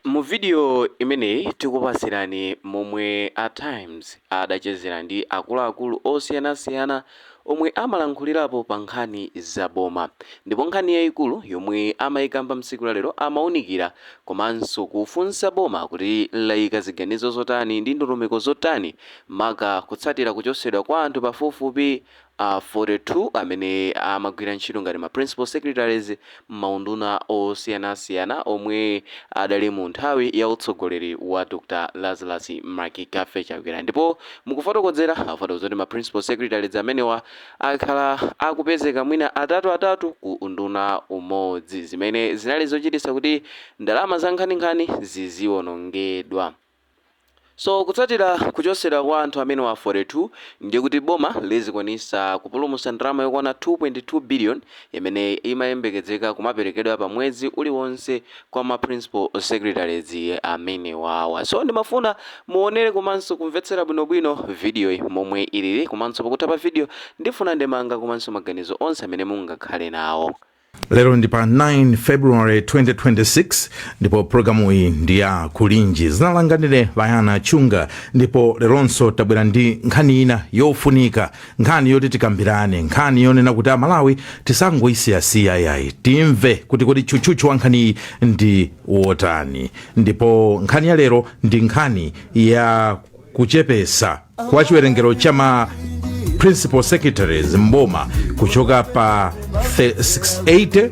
Mu video imeneyi tikupatsirani momwe a Times adachezera ndi akuluakulu osiyanasiyana omwe amalankhulirapo pa nkhani za boma ndipo nkhani yaikulu yomwe amaikamba mtsiku la lero amaunikira komanso kufunsa boma kuti laika ziganizo zotani ndi ndondomeko zotani maka kutsatira kuchotsedwa kwa anthu pafupifupi 42 amene amagwira ntchito ngati ma Principal Secretaries m'maunduna osiyanasiyana omwe adali mu nthawi ya utsogoleri wa Dr Lazarus McCarthy Chakwera ndipo mukufotokozera afotokoza kuti ma Principal Secretaries amenewa akhala akupezeka mwina atatu atatu ku unduna umodzi zimene zinali zochititsa kuti ndalama zankhaninkhani ziziwonongedwa. So kutsatira kuchosedwa kwa anthu amenewa 42 ndiye kuti boma lizikwanisa kupulumusa ndalama yokwana 2.2 billion imene imayembekezeka kumaperekedwa pa mwezi uliwonse kwa ma principal secretaries amenewawa. So ndimafuna muonere komanso kumvetsera bwino bwino video yi momwe ilili komanso pakutha pa video ndifuna ndemanga komanso maganizo onse amene mungakhale nawo. lero ndi pa 9 february 2026 ndipo programu iyi ndi ya kulinji dzina langa ndine vayana chunga ndipo leronso tabwera ndi nkhani ina yofunika nkhani yoti tikambirane nkhani yonena kuti amalawi tisangoyisiyasiya ayayi timve kuti kodi tchutchutchu wa nkhaniyi ndi wotani ndipo nkhani ya lero ndi nkhani ya kuchepesa kwa chiwerengero cha ma principal secretaries mboma kuchoka pa 68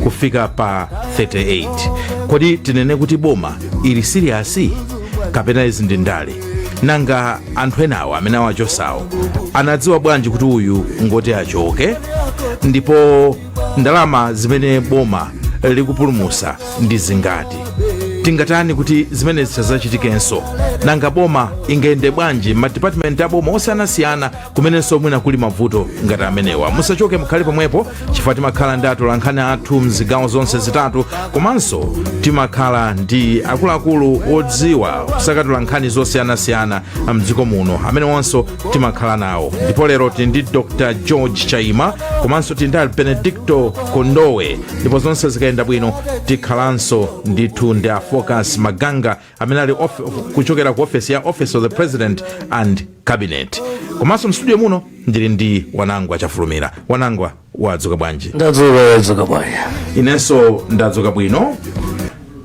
kufika pa 38 kodi tinene kuti boma ili siriyasi kapena izi ndi ndale nanga anthu enawo amene awachosawo anadziwa bwanji kuti uyu ngoti achoke ndipo ndalama zimene boma likupulumusa ndi zingati tingatani kuti zimenezi zisazachitikenso nanga boma ingayende bwanji madipatimenti a boma osiyanasiyana kumenenso mwina kuli mavuto ngati amenewa musachoke mukhale pomwepo chifukwa timakhala ndi atolankhani athu mzigawo zonse zitatu komanso timakhala ndi akuluakulu odziwa kusakatula nkhani zosiyanasiyana mdziko muno amene wonso timakhala nawo ndipo lero tili ndi dr george chaima komanso tili ndi a benedicto kondowe ndipo zonse zikayenda bwino tikhalanso ndithu ndi a focus maganga amene ali kuchokera ku ofesi ya office of the president and cabinet komanso mstudio muno ndili ndi wanangwa chafulumira wanangwa wadzuka bwanji ndadzuka wadzuka bwanji inenso ndadzuka bwino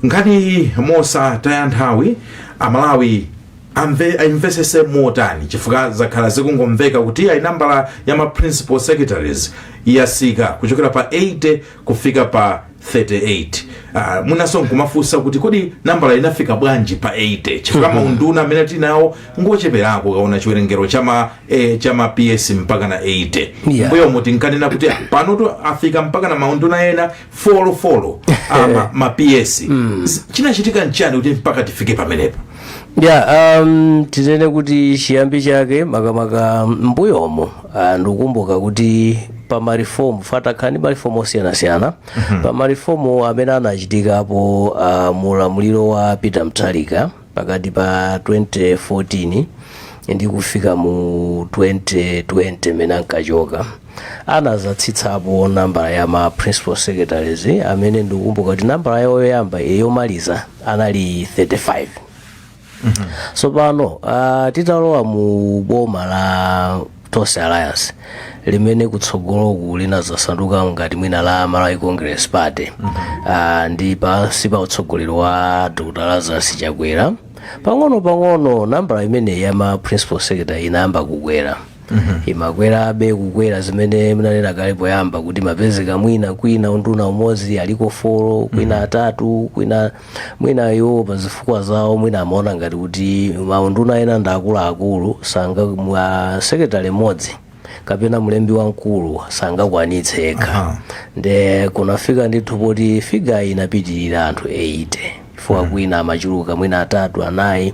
nkhani mosataya nthawi amalawi a aimvesese motani chifukwa zakhala zikungomveka kuti ayi nambala ya ma principal secretaries yasika kuchokera pa 80 kufika pa 38 uh, mwinanso nkumafunsa kuti kodi nambala inafika bwanji pa 80 chifukwa mm -hmm. maunduna amene tinawo ngocheperako ukaona chiwerengero cha ma eh, cha ma ps mpaka na 80 Yeah. mbuyomu tinkanena kuti ah, panotu afika mpaka na maunduna ena folo folo ama ma PS S- chinachitika nchani kuti mpaka tifike pamenepo ya um, tinene kuti chiyambi chake makamaka m'mbuyomo ah, ndikukumbuka kuti pa marifomu fa takhala ndi marifomu osiyanasiyana pa marifomu amene anachitikapo ah, mu ulamuliro wa peter mutharika Pakati pa 2014 ndi kufika mu 2020 mmene ankachoka, anazatsitsapo nambala ya ma principal secretaries amene ndikukumbuka kuti nambala yawo yoyamba eh, yomaliza anali 35 tsopano ah, titalowa mu boma la tonse alliance limene kutsogoloku linazasanduka ngati mwina la malawi congress party Ah, ndi pansi pa utsogoleri wa dr lazarus chakwera pang'ono pang'ono nambala imeneyi ya ma principal secretary inayamba kukwera imakwerabe kukwera zimene munanena kale poyamba kuti umapezeka mwina kwina unduna umodzi aliko folo kwina atatu kwina mwina iwo pa zifukwa zawo mwina amaona ngati kuti maunduna ena ndi akuluakulu sanga mwina secretary mmodzi kapena mlembi wamkulu sangakwanitse yekha Aha. nde kunafika ndithu poti figayi inapitirira anthu 80 chifukwa kwina amachuluka mwina atatu anayi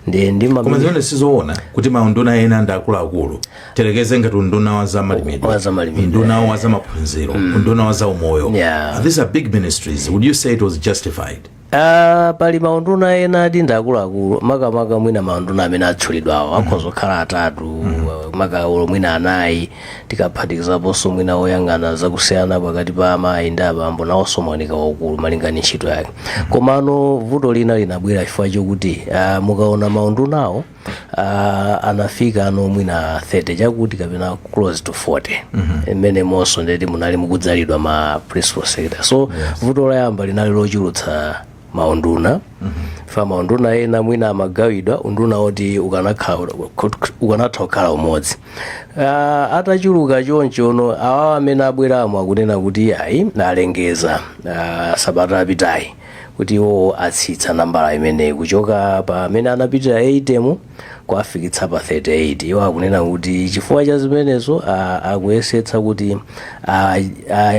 ndi ndi koma mamene- zimene sizoona kuti maunduna ena ndi akuluakulu tiyerekeze ngati unduna wa za malimidwe Wa za malimidwe. unduna wa za maphunziro unduna wa za umoyo Yeah. these are big ministries would you say it was justified Ah, pali maunduna ena ati ndi akuluakulu makamaka mwina maunduna amene atchulidwawo akhoza kukhala atatu makamaka mwina anayi tikaphatikizaponso mwina woyang'ana zakusiyana pakati pa amayi ndi abambo nawonso umaoneka waukulu malinga ndi ntchito yake komano vuto lina linabwera chifukwa chokuti ah, mukaona maundunawo uh, anafikano mwina 30 chakuti kapena close to 40 mmenemonso ndeti munali mukudzalidwa ma principal secretary so vuto loyamba linali lochulutsa maunduna fa maunduna ena mwina amagawidwa unduna woti ukanakha- kut- ukanatha kukhala umodzi Ah, atachuluka chonchono awawa amene abweramo akunena kuti ayi alengeza ah, sabata yapitayi kuti iwo atsitsa nambala imeneyi kuchoka pa amene anapitira 80 nkuwafikitsa pa 38 iwo akunena kuti chifukwa cha zimenezo a- akuyesetsa kuti a-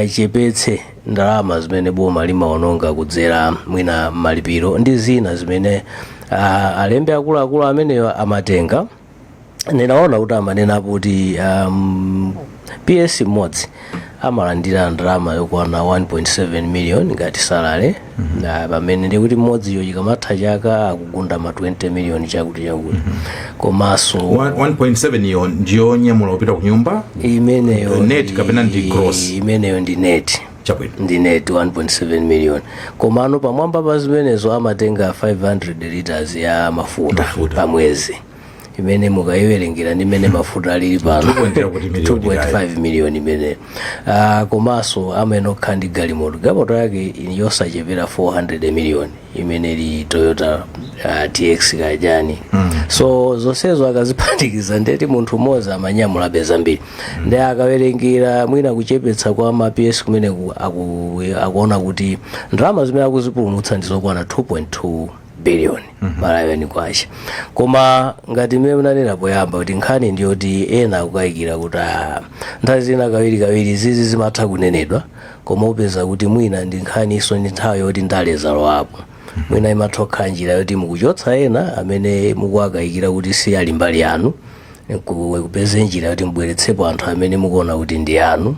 achepetse ndalama zimene boma limaononga kudzera mwina mmalipiro ndi zina zimene a- alembe akuluakulu amenewa amatenga ndinaona kuti amanena kuti um, ps mmodzi amalandira ndalama yokwana 1.7 million ngati salary pamene ndikuti mmodziyo chikamatha chaka akugunda ma 20 million chakuti chakuti komanso 1.7 iyo ndi yonyamula kupita ku nyumba imeneyo Net ndi- kapena ndi gross? imeneyo ndi net chabwino ndi net 1.7 million komano pamwamba pa zimenezo amatenga 500 liters ya mafuta Mafuta. pa mwezi imene mukayiwerengera ndi mmene mafuta alili pano 2.0 kuti million 2.5 million imene Ah, komanso amayenera kukhala ndi galimoto galimoto yake yosachepera 400 million imene ili Toyota uh, TX kajani mm. so zonsezo akaziphatikiza ndiye kuti munthu mmodzi amanyamulabe zambiri mm. ndiye akawerengera mwina kuchepetsa kwa ma ps kumene ku- aku- akuona kuti ndalama zimene akuzipulumutsa ndi zokwana 2.2 billion Malawian kwacha koma ngati mmene munanena poyamba kuti nkhani ndiyoti ena akukayikira kuti ah, nthawi zina kawirikawiri izi zimatha kunenedwa koma upeza kuti mwina ndi nkhaniso ndi nthawi yoti ndale zalowapo mwina imatha kukhala njira yoti mukuchotsa ena amene mukuwakayikira kuti si ali mbali yanu nku- kupeza njira yoti mubweretsepo anthu amene mukuona kuti ndi anu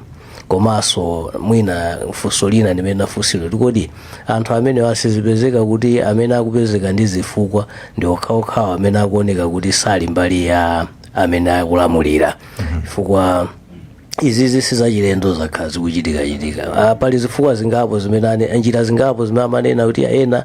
komanso mwina funso lina limene linafunsidwa kuti kodi anthu amene asazipezeka kuti amene akupezeka ndi zifukwa ndi okhaokhawo amene akuoneka kuti sali mbali ya amene akulamulira chifukwa izizi sizachilendo zakhala zikuchitikachitika Ah, pali zifukwa zingapo zimene ane- njira zingapo zimene amanena kuti ena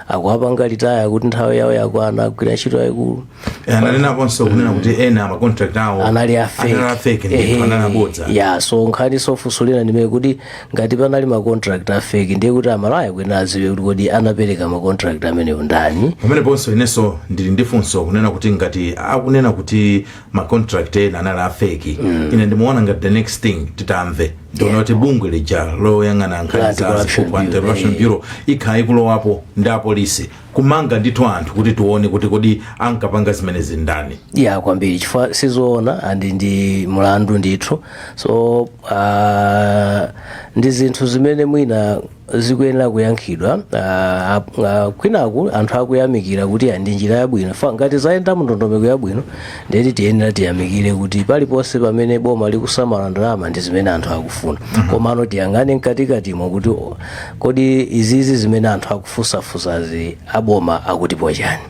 akuwapanga retire kuti nthawi yawo yakwana agwira ntchito yayikulu ananenaponso kunena kuti ena macontract awo anali anali a fake ndipo anali abodza ya so nkhani yofunsira ndi imene kuti ngati panali macontract a fake ndiye kuti aMalawi akuyenera adziwe kuti kodi anapereka macontract amenewo ndani pameneponso inenso ndili ndi funso kunena kuti ngati akunena kuti ma contract ena anali a fake ine ndimaona ngati the next thing titamve ndionena kuti bungwe lija loyang'ana nkhani za Anti-corruption ziphuphu anti Bureau, corruption eh. bureau ikhala ikulowapo ndi apolisi kumanga ndithu anthu kuti tione kuti kodi ankapanga zimenezi ndani ya kwambiri chifukwa sizoona and ndi mlandu ndithu so uh, ndi zinthu zimene mwina zikuyenera kuyankhidwa ah, ah, ah, kwinaku anthu akuyamikira kuti ah, ndi njira yabwino if ngati zayenda mndondomeko yabwino nde kuti tiyenera tiyamikire kuti paliponse pamene boma likusamala ndalama ndi zimene anthu akufuna komano tiyang'ane mkatikatimo kuti oh, kodi izizi zimene anthu akufunsafunsazi aboma akutipo chani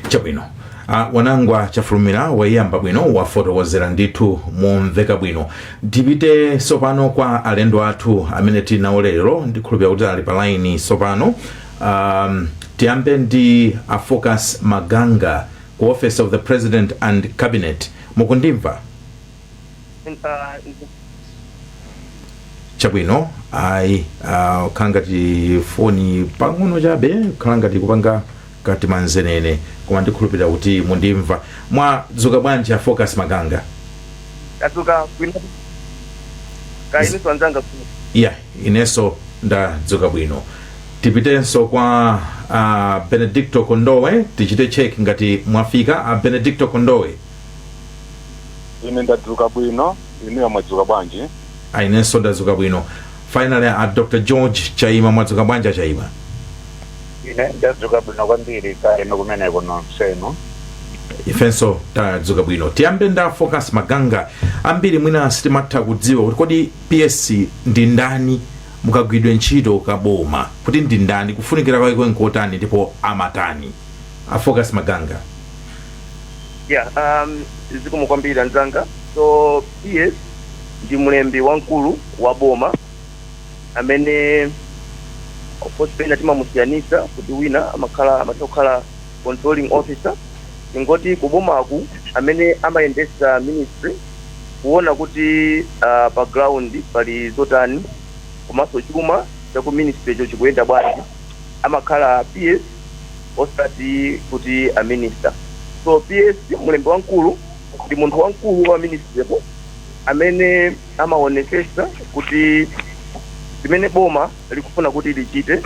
chabwino Ah, wanangwa chafulumira waiyamba bwino wafotokozera ndithu momveka bwino tipite tsopano kwa alendo athu amene tili nawo lero ndikhulupirira kuti ali pa laini tsopano um, tiyambe ndi a focus maganga ku office of the president and cabinet mukundimva chabwino ayi ikukhala ngati foni pang'ono chabe khala ngati kupanga katimanzenene koma ndikhulupirira kuti mundimva. mwadzuka bwanji a focus maganga? tadzuka bwino kaya inunso anzanga ya inenso ndadzuka bwino tipitenso kwa uh, benedicto kondowe tichite check ngati mwafika a uh, benedicto kondowe ine ndadzuka bwino inuyo mwadzuka bwanji a inenso ndadzuka bwino finally a uh, dr george chaima mwadzuka bwanji chaima Ine ndadzuka bwino kwambiri kaya inu kumeneko nonsenu. ifenso tadzuka bwino tiyambe ndi a focus maganga ambiri mwina sitimatha kudziwa kuti kodi ps ndi ndani mukagwidwe ntchito kaboma kuti ndi ndani kufunikira kwake nkotani ndipo amatani a focus maganga yeah um zikomo kwambiri anzanga so ps ndi mlembi wamkulu wa boma amene of course pena timamusiyanitsa kuti wina amakhala amatha kukhala controlling officer tingoti kubomaku amene amayendetsa ministry kuona kuti uh, pa ground pali zotani komanso chuma cha ku ministry-cho chikuyenda bwanji amakhala ps osati kuti a minister so ps mlembi wamkulu ndi munthu wamkulu wa ministry-po amene amaonetsetsa kuti zimene boma likufuna kuti lichite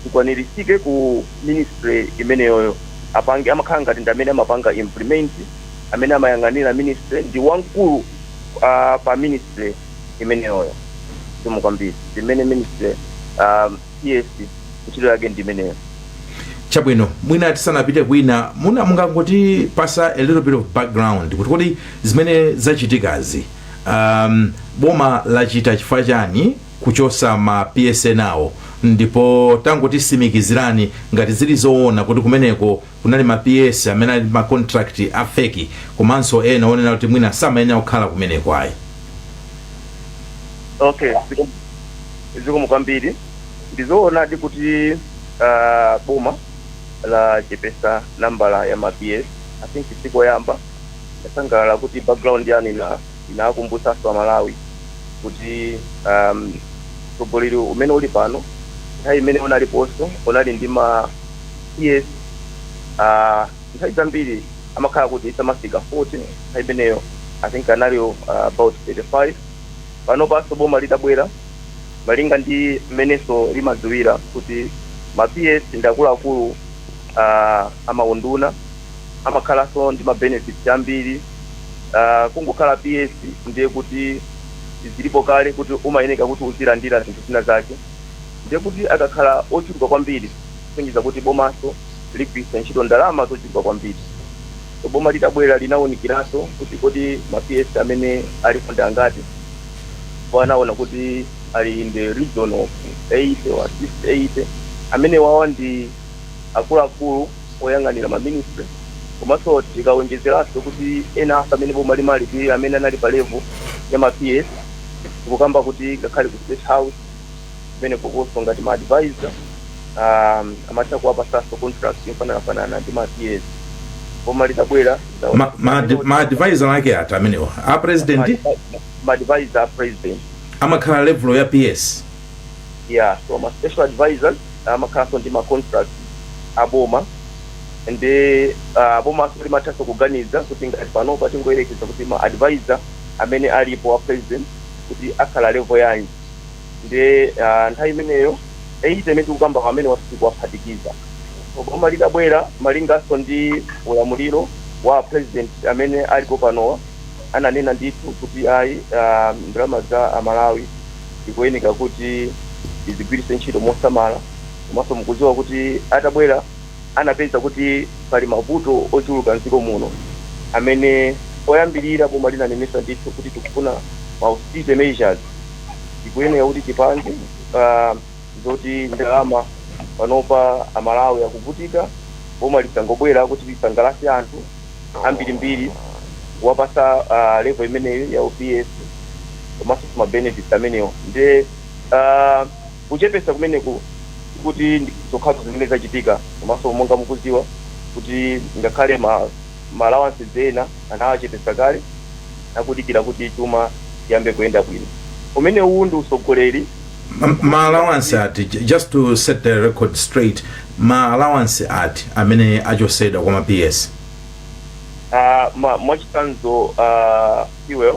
likwaniritsike ku ministry imeneyoyo apange amakhala ngati ndi amene amapanga implement amene amayang'anira ministry ndi wamkulu uh, pa ministry imeneyoyo simu kwambiri zimene ministry um, PS ntchito yake ndi imeneyo chabwino mwina tisanapite kwina mungangotipatsa a little bit of background kuti kodi zimene zachitikazi um, boma lachita chifukwa chani kuchotsa ma PS-wawo ndipo tangotitsimikizirani ngati zili zoona kuti kumeneko Kunali ma PS amene ali ndi ma contract a fake komanso ena onena kuti mwina samayenera kukhala kumeneko ayi. Okay, zikomo kwambiri. Ndizoonadi kuti ah, boma lachepesa nambala ya ma PS. I think sikoyamba yasangalala kuti background yanu inakumbutsanso Amalawi kuti um, utsogoleri umene uli pano nthawi imene unaliponso unali ndi ma PS ah, nthawi zambiri amakhala kuti samafika 40 nthawi imeneyo i think analipo, about 35 panopanso boma litabwera malinga ndi mmenenso limadziwira kuti ma ps ndi akuluakulu uh, amaunduna amakhalanso ndi ma benefits ambiri uh, kungokhala ps ndiye kuti zilipo kale kuti umayeneka kuti uzilandira zinthu zina zake ndiye kuti akakhala ochuluka kwambiri kusonyeza kuti bomanso ligwiritsa ntchito ndalama zochuluka kwambiri. So boma litabwera linawunikiranso kuti kodi ma PS amene alipo ndi angati ndipo anaona kuti ali in the region of 80 or 80 amenewawa ndi akuluakulu oyang'anira ma ministry komanso tikawonjezeranso kuti ena afa amene boma limalipira amene anali pa level ya ma PS tikukamba kuti ngakhale ku state house kumene kukonso ngati ma advisor um, amatha kuwapasanso contract yofananafanana ndi ma ps boma litabwera ma, ma, ma advisor ake ati amenewa a president ma advisor a president amakhala level ya ps yeah so ma special advisors amakhalanso ndi ma contract aboma nde bomanso limathanso kuganiza kuti ngati panopa tingoyerekeza kuti ma advisor amene alipo a president kuti akhala level yanji ndiye ah, nthawi imeneyo 80 imene tikukamba amenewa sikuwaphatikiza so boma litabwera malinganso ndi ulamuliro wa president amene alipo panowa ananena ndithu kuti ayi ah, ndalama za amalawi zikuyeneka kuti tizigwiritse ntchito mosamala komanso mukuziwa kuti atabwera anapeza kuti pali mavuto ochuluka m'dziko muno amene poyambirira boma linanenesa ndithu kuti tikufuna ma austerity measures zikuyeneka kuti tipange ah, zoti ndalama panopa amalawi akuvutika boma lisangobwera kuti lisangalase anthu ambirimbiri kuwapasa ah, level imeneyo ya u PS komanso ma benefits amenewo nde ah, Kuchepetsa kumeneku sikuti ndi zokhazo zimene zachitika komanso monga mukudziwa kuti ngakhale ma ma allowances ena anawachepetsa kale nakudikira kuti chuma chiyambe kuyenda bwino. Umenewuwu ndi utsogoleri. M ma allowance ati, ju just to set the record straight, ma allowance ati amene achotsedwa kwa ma PS? aah ma mwachitsanzo aah. fuel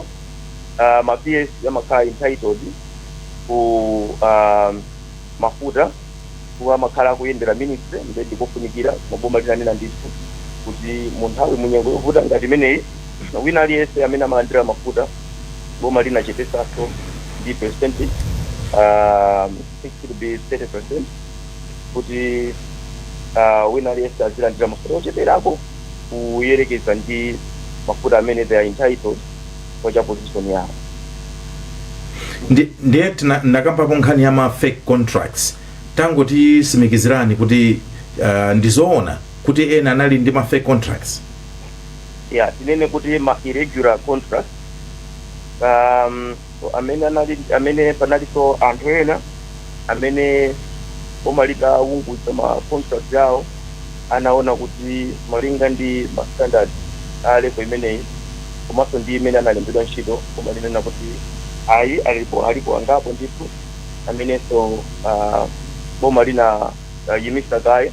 uh, ma PS amakhala entitled ku um, mafuta kuwa amakhala akuyendera ministry ndiye ndikofunikira koma boma linanena ndithu kuti mu nthawi munyengo yovuta ngati imeneyi wina aliyense amene amalandira mafuta boma linachepetsanso ndi percentage um, 60 be 30 percent kuti uh, wina aliyense azilandira mafuta ocheperako kuyerekeza ndi mafuta amene they are entitled kwa cha position yawo Ndi- ndiye tina- ndakambapo nkhani ya ma fake contracts tangotitsimikizirani kuti uh, ndizoona kuti ena anali ndi ma fake contracts yeah tinene kuti ma irregular contract um, Ndipo amene anali, amene panalinso anthu ena amene boma litaunguza ma contract awo anaona kuti malinga ndi ma standard a level imeneyi komanso ndi mmene analembedwa ntchito, boma linanena kuti ayi alipo, alipo angapo ndithu amenenso ah boma linawayimisa kaye.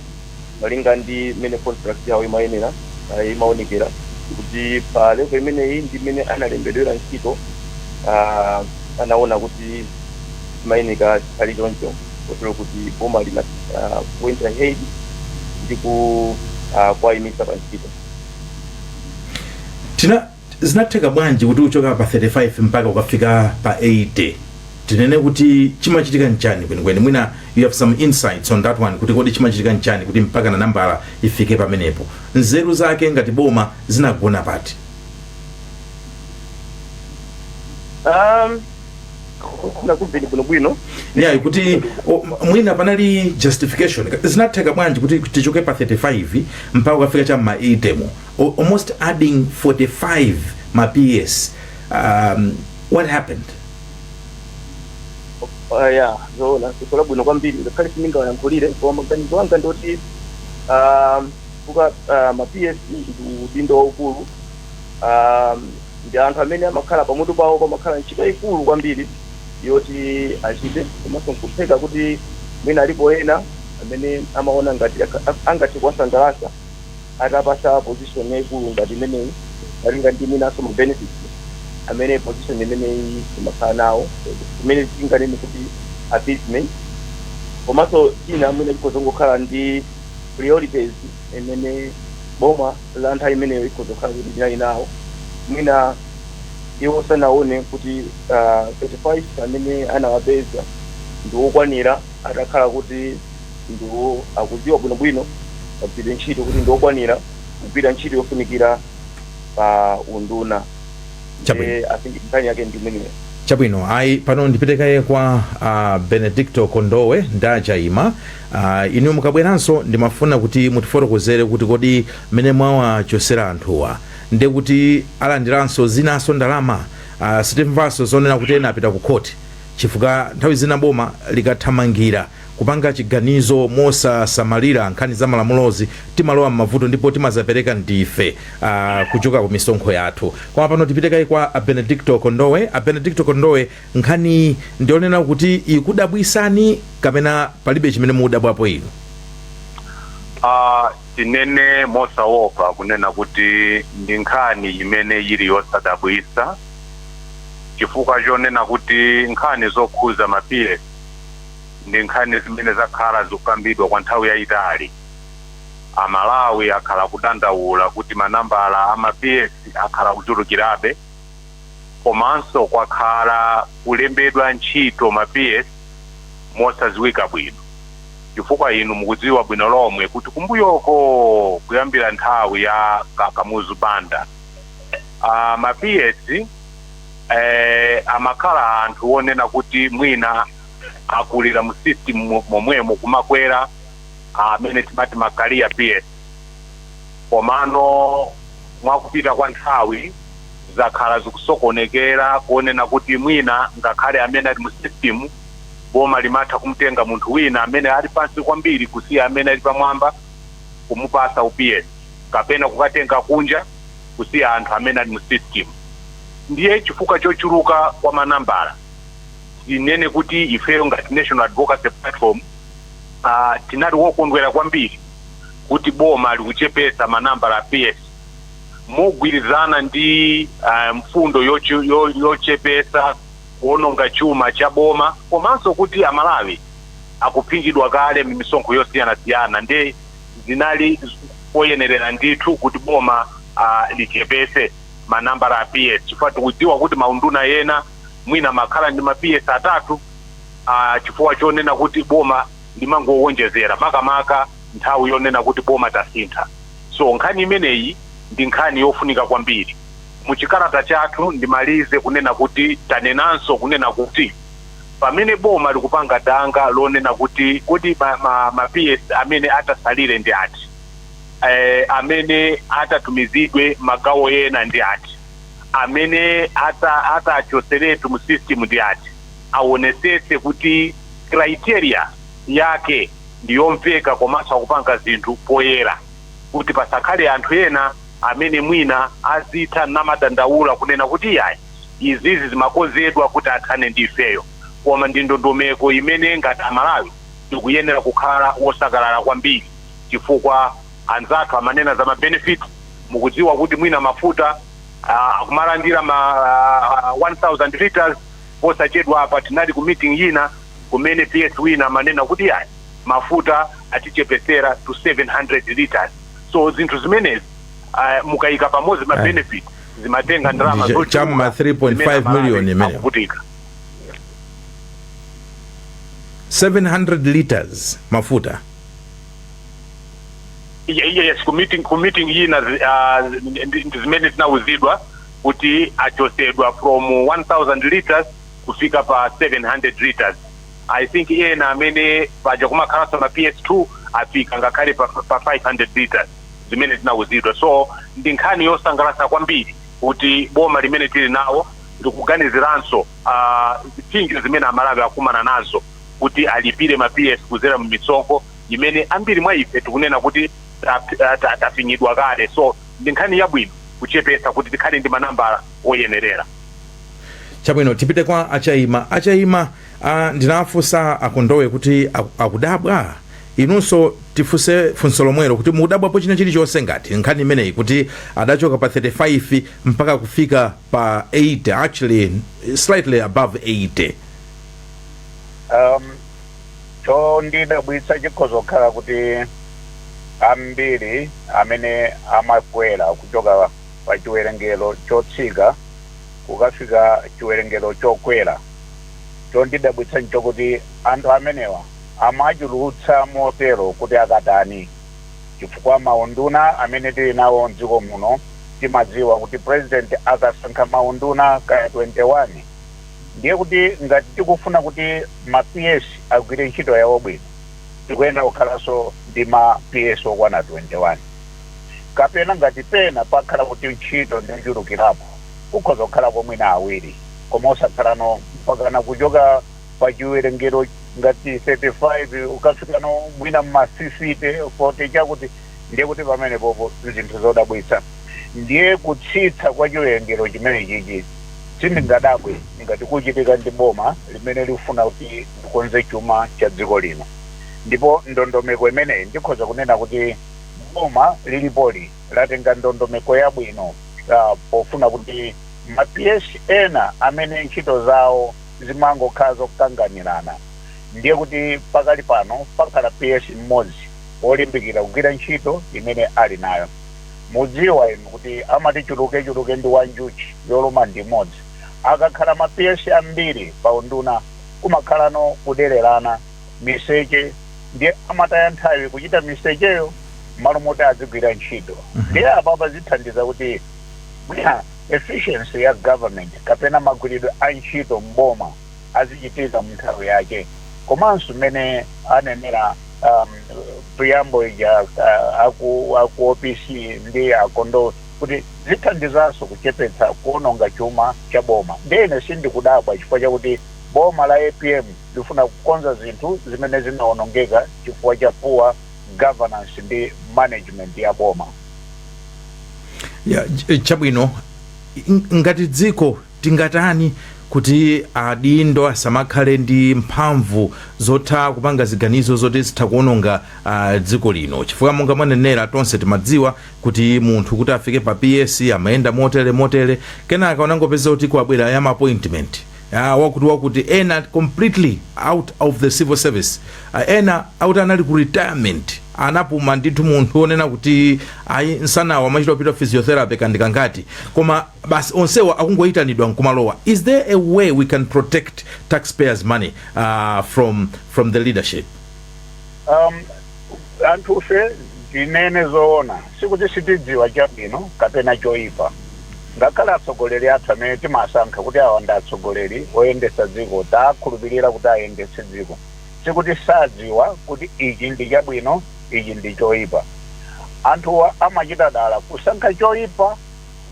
malinga ndi mmene contract yawo imayenera uh, imaonekera kuti pa level imeneyi ndi mmene analembedwera ntchito uh, anaona kuti zimayenera zikhale choncho kotero kuti boma lina uh, went ahead ndi ku uh, kuwayimitsa pa ntchito Tina, Zinatheka bwanji kuti uchoke pa 35 mpaka ukafika pa 80? Tinene kuti chimachitika nchani kwenikweni? Mwina you have some insights on that one kuti kodi chimachitika nchani kuti mpakana nambala ifike pamenepo? Nzeru zake ngati boma zinagona pati? Um, ndakumvani bwinobwino Yeah, kuti o, mwina panali justification. Zinatheka bwanji kuti tichoke pa 35 mpaka ukafika cha ma 80 mo? al- almost adding 45 ma PS. Um, what happened? Ah, ya zoona zikola bwino kwambiri ngakhale sindingawayankhulire koma maganizo anga ndi oti um, kuka uh, ma ps ndi udindo waukulu um, ndi anthu amene amakhala pamutu pawo pamakhala ntchito yayikulu kwambiri yoti achite komanso nkutheka kuti mwina alipo ena amene amaona ngati aka- angathe kuwasangalatsa atapasa position yaikulu ngati imeneyi malinga ndi mwinanso ma benefits amene position imeneyi imakhala nawo imene tinganene kuti appeasement komanso china mwina chikhoza kungokhala ndi priorities imene boma la nthawi imeneyo ikhoza kukhala kuti linali nawo mwina iwo sanaone kuti uh, 35 amene anawapeza ndi wokwanira atakhala kuti ndiwo akudziwa bwinobwino kagwiridwe ntchito kuti ndi okwanira kugwira ntchito yofunikira pa unduna Chabwino. ndiye i think nkhani yake ndi imeneyo chabwino ayi pano ndipite kaye kwa uh, benedicto kondowe ndachaima uh, inu mukabweranso ndimafuna kuti mutifotokozere kuti kodi mmene mwawachosera anthuwa nde kuti alandiranso zinanso ndalama uh, sitimvanso zonena kuti ena apita ku khoti chifukwa nthawi zina boma likathamangira kupanga chiganizo mosasamalira nkhani za malamulozi timalowa m'mavuto ndipo timazapereka ndife uh, kuchoka ku misonkho yathu koma pano tipite kaye kwa a benedicto kondowe a benedicto kondowe nkhani ndi yonena kuti ikudabwisani kapena palibe chimene mukudabwapo inu Ah, tinene mosaopa kunena kuti ndi nkhani imene ili yosadabwisa chifukwa chonena kuti nkhani zokhuza ma PS ndi nkhani zimene zakhala zikukambidwa kwa nthawi yaitali. Amalawi akhala akudandaula kuti ma nambala a ma PS akhala akuchulukirabe komanso kwakhala kulembedwa ntchito ma PS mosadziwika bwino chifukwa inu mukudziwa bwino lomwe kuti kumbuyoko kuyambira nthawi ya ka Kamuzu Banda, a ma PS. eh, amakhala anthu onena kuti mwina akulira mu system mo- momwemo kumakwera amene timati ma career PS komano mwakupita kwa nthawi zakhala zikusokonekera konena kuti mwina ngakhale amene ali mu system boma limatha kumtenga munthu wina amene ali pansi kwambiri kusiya amene ali pamwamba kumupasa u PS kapena kukatenga kunja kusiya anthu amene ali mu system ndiye chifukwa chochuluka kwa manambala tinene kuti ifeyo ngati national advocacy platform uh, tinali wokondwera kwambiri kuti boma likuchepesa manambala a ps mogwirizana ndi uh, mfundo yochu- yo- yochepesa kuononga chuma cha boma komanso kuti amalawi akuphinjidwa kale mmisonkho yosiyanasiyana nde zinali poyenerera ndithu kuti boma uh, lichepese manambala a ps chifukwa tikudziwa kuti maunduna yena mwina makhala ndi ma ps atatu uh, chifukwa chonena kuti boma limangowonjezera makamaka nthawi yonena kuti boma tasintha so nkhani imeneyi ndi nkhani yofunika kwambiri muchikalata chathu ndimalize kunena kuti tanenanso kunena kuti pamene boma likupanga danga lonena kuti kodi ma, ma, ma PS amene atasalire ndi ati eh, amene atatumizidwe magawo ena ndi ati amene ata- atachoseretu mu system ndi ati awonesetse kuti criteria yake ndiyomveka komanso akupanga zinthu poyera kuti pasakhale anthu ena amene mwina azitha namadandaula kunena kuti iyayi izizi zimakonzedwa kuti athane ndi ifeyo koma ndi ndondomeko imene ngati amalawi tikuyenera kukhala wosangalala kwambiri chifukwa anzathu amanena za ma benefit mukudziwa kuti mwina mafuta akumalandira ma 1000 litres posachedwa apa tinali ku meeting yina kumene PS wina amanena kuti yayi mafuta atichepesera to 700 litres so zinthu zimenezi mukayika pamodzi ma benefit zimatenga ndalama Ndicho- zochuluka cha m'ma 3.5 zimene Amalawi million imeneyo. akuvutika. 700 liters mafuta Iye- iye yes ku meeting ku meeting iyi na zi- ah, zi- ndi- ndi zimene tinauzidwa kuti achosedwa from 1000 liters kufika pa 700 liters i think ena amene paja kumakhalanso ma ps2 afika ngakhale pa, pa 500 liters zimene tinauzidwa so ndi nkhani yosangalatsa kwambiri kuti boma limene tili nawo likuganiziranso ah, zipsinjo zimene amalawi akumana nazo kuti alipire ma ps kuzera mu misonkho imene ambiri mwa ife tikunena kuti ta- ta- ta- tafinyidwa kale so ndi nkhani yabwino kuchepetsa kuti tikhale ndi manambala oyenerera chabwino tipite kwa a Chaima a Chaima uh, ndinafunsa a Kondowe kuti aku- akudabwa inunso tifunse funso lomwelo kuti mudabwapo china chilichonse ngati nkhani imeneyi kuti adachoka pa 35 mpaka kufika pa 80 actually slightly above 80 um, chondidabwitsa chikhoza kukhala kuti ambiri amene amakwera kuchoka pa chiwerengero chotsika kukafika chiwerengero chokwera chondidabwitsa nchokuti anthu amenewa Amachulutsa motero kuti akatani? Chifukwa maunduna amene tili nawo m'dziko muno timadziwa kuti president akasankha maunduna kaya 21 ndiye kuti ngati tikufuna kuti ma PS agwire ntchito yawo bwino tikuyenera kukhalanso ndi ma PS okwana 21 kapena ngati pena pakhala kuti ntchito ndi yochulukirapo kukhoza kukhalako mwina awiri koma osakhalano mpakana kuchoka pa chiwerengero ngati 35 ukafikano mwina mma 60 40 chakuti ndiye kuti pamenepopo zinthu zodabwitsa ndiye kutsitsa kwa chiwerengero chimenechichi sindingadabwe ngati kuchitika ndi boma limene likufuna kuti likonze chuma cha dziko lino ndipo ndondomeko imeneyi ndikhoza kunena kuti boma lilipoli latenga ndondomeko yabwino ah, pofuna kuti ma PS ena amene ntchito zawo zimangokhala zokanganirana ndiye kuti pakali pano pakhala PS mmodzi wolimbikira kugwira ntchito imene ali nayo. Mudziwa inu kuti amati chulukechuluke ndi wa njuchi yoluma ndi imodzi. Akakhala ma PS ambiri pa unduna kumakhalano kudererana, miseche ndiye amataya nthawi kuchita misecheyo mmalo moti adzigwira ntchito. Ndiye apapa zithandiza kuti Efficiency ya government kapena magwiridwe a ntchito m'boma azichitika mu nthawi yake komanso mmene anenera mu preamble ija a ku a ku opc ndi a Kondowe kuti zithandizanso kuchepetsa kuononga chuma cha boma. Ndiye ine sindikudabwa chifukwa chakuti boma la apm likufuna kukonza zinthu zimene zinaonongeka chifukwa cha poor governance ndi management ya boma. Ya, ch- chabwino ng- ngati dziko tingatani kuti adindo asamakhale ndi mphamvu zotha kupanga ziganizo zoti zitha kuononga uh, dziko lino chifukwa monga mwanenera tonse timadziwa kuti munthu kuti afike pa ps amayenda motere motere kenaka ungopeza kuti kwabwera ma appointment ah, wakuti wakuti ena completely out of the civil service ah, ena akuti anali ku retirement anapuma ndithu munthu onena kuti ayi msanawu amachita kupita physiotherapy kandi kangati koma basi onsewa akungoyitanidwa nkumalowa is there a way we can protect taxpayers money uh, from, from the leadership um, Anthufe, tinene zoona, sikuti sitidziwa chabwino kapena choipa. Ngakhale atsogoleri athu amene timawasankha kuti awa ndi atsogoleri oyendetsa dziko, tawakhulupirira kuti ayendetse dziko, sikuti sadziwa kuti ichi ndi chabwino ichi ndi choipa. Anthuwa amachita dala kusankha choipa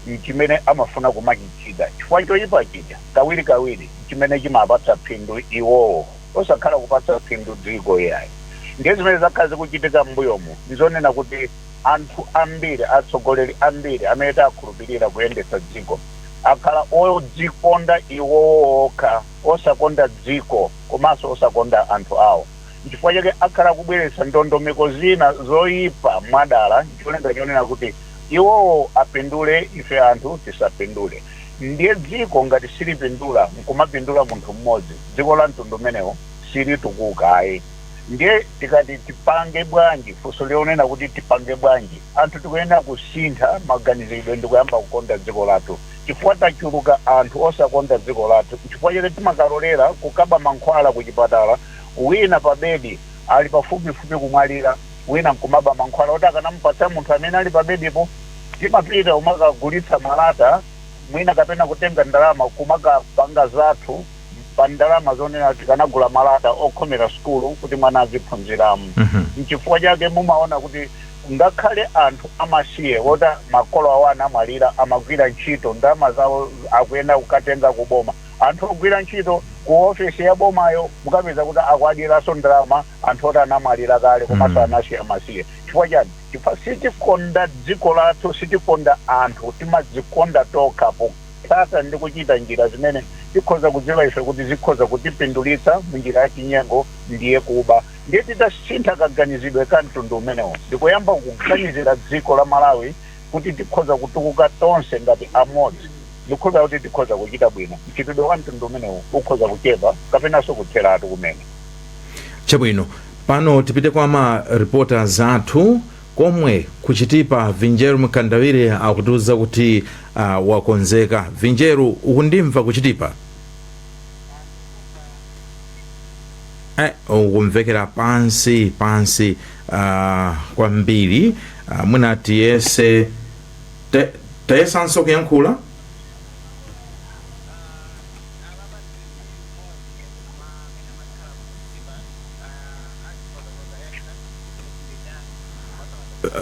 n'chimene amafuna kumachichita chifukwa choipa chija kawirikawiri n'chimene chimawapatsa phindu iwowo. osakhala kupatsa phindu dziko iyayi. Ndiye zimene zakhala zikuchitika m'mbuyomu n'zonena kuti anthu ambiri, atsogoleri ambiri amene takhulupirira kuyendetsa dziko, akhala odzikonda iwowo okha, osakonda dziko komanso osakonda anthu awo. N'chifukwa chake akhala kubweretsa ndondomeko zina zoipa mwadala n'cholinga chonena kuti iwowo apindule ife anthu tisapindule. Ndiye dziko ngati silipindula nkumapindula munthu mmodzi, dziko la mtundu umenewo silitukuka ayi. Ndiye tikati tipange bwanji, funso lonena kuti tipange bwanji, anthu tikuyenera kusintha maganiziridwe ndikuyamba kukonda dziko lathu. Chifukwa tachuluka anthu osakonda dziko lathu nchifukwa chake timakalolera kukaba mankhwala kuchipatala wina pabedi ali pafupifupi kumwalira. wina nkumaba mankhwala oti akanamupatsa munthu amene ali pabedipo. Timapita kumakagulitsa malata mwina kapena kutenga ndalama kumakapanga zathu pa ndalama zonena tikanagula malata okhomera sukulu kuti mwana aziphunziramo. Nchifukwa chake mumaona kuti ngakhale anthu amasiye woti makolo awo anamwalira amagwira ntchito, ndalama zawo akuyenera kukatenga kuboma. Anthu ogwira ntchito kuofesi yabomayo mukapeza kuti akuwadyeranso ndalama. anthu oti anamwalira kale komanso anasiya amasiye chifukwa chani chifukwa sitikonda dziko lathu sitikonda anthu timadzikonda tokha potsata ndi kuchita njira zimene tikhoza kudziwa ife kuti zikhoza kutipindulitsa munjira ya chinyengo ndiye kuba ndiye titasintha kaganizidwe ka mtundu umenewo ndikuyamba kuganizira dziko la malawi kuti tikhoza kutukuka tonse ngati amodzi ndikhoza kuti tikhoza kuchita bwino mchitidwe wa mtundu umenewo ukhoza kuchepa kapenanso kutheratu kumene chabwino pano tipite kwa ma reporters athu komwe kuchitipa vinjeru mkandawire akutiuza kuti uh, wakonzeka vinjeru ukundimva kuchitipa eh, ukumvekera pansi pansi uh, kwambiri uh, mwina tiyese te, tayesanso kuyankhula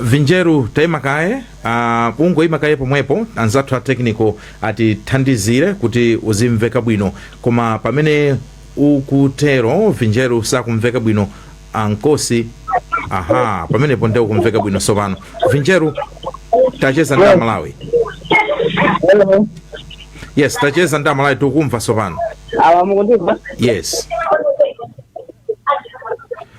vinjeru taima kaye uh, kungoima kaye pomwepo anzathu a technical atithandizire kuti uzimveka bwino koma pamene ukutero vinjeru sakumveka bwino amkosi aha pamenepo nde ukumveka bwino sopano vinjeru tacheza ndi amalawi Hello. yes tacheza ndi Amalawi tikukumva tsopano awa mukundimva yes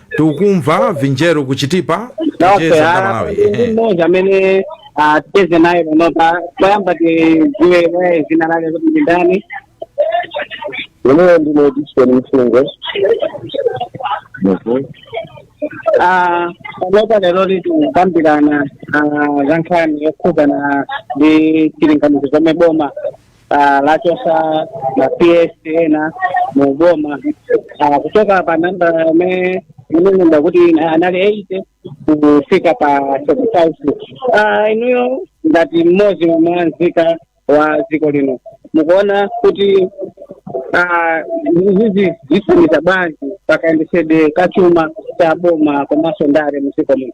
tikukumva Vinjeru ku Chitipa tacheza ndi Amalawi Ehe. mmodzi amene ah, ticheze naye panopa poyamba tidziwe dzina lake kuti ndi ndani Ine ndine Dickson Mfungo. panopa lero tikukambirana ah, za nkhani yokhudzana ndi chilinganizo chomwe boma ah, lachotsa ma PS ena mu boma Ah, kuchoka pa namba yomwe inanenedwa kuti ina- anali eighty kufika pa thirty five inuyo ngati mmodzi mwa nzika za dziko lino mukuona kuti ah, izi zithandiza bwanji pakayendetsedwe ka chuma cha boma komanso ndale mu dziko muno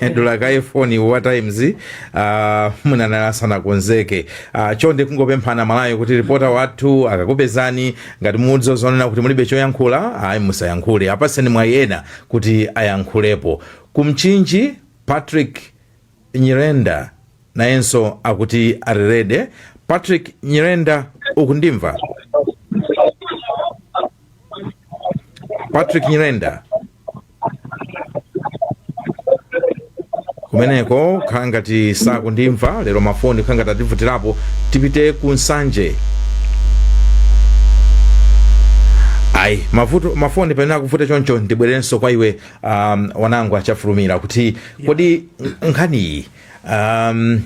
adula kaye foni wa Times uh, mwina naye asanakonzeke uh, chonde kungopempha Amalawi kuti ripota wathu akakupezani ngati mukudziwa zonena kuti mulibe choyankhula ayi musayankhule apaseni mwayi ena kuti ayankhulepo ku Mchinji Patrick Nyirenda nayenso akuti ali ready Patrick Nyirenda ukundimva Patrick Nyirenda kumeneko kukhala ngati sakundimva lero mafoni kukhala ngati ativutirapo tipite ku Nsanje ayi mafoni pamene akuvuta choncho ndibwerenso kwa iwe um, Wanangwa Chafulumira kuti kodi nkhaniyi um,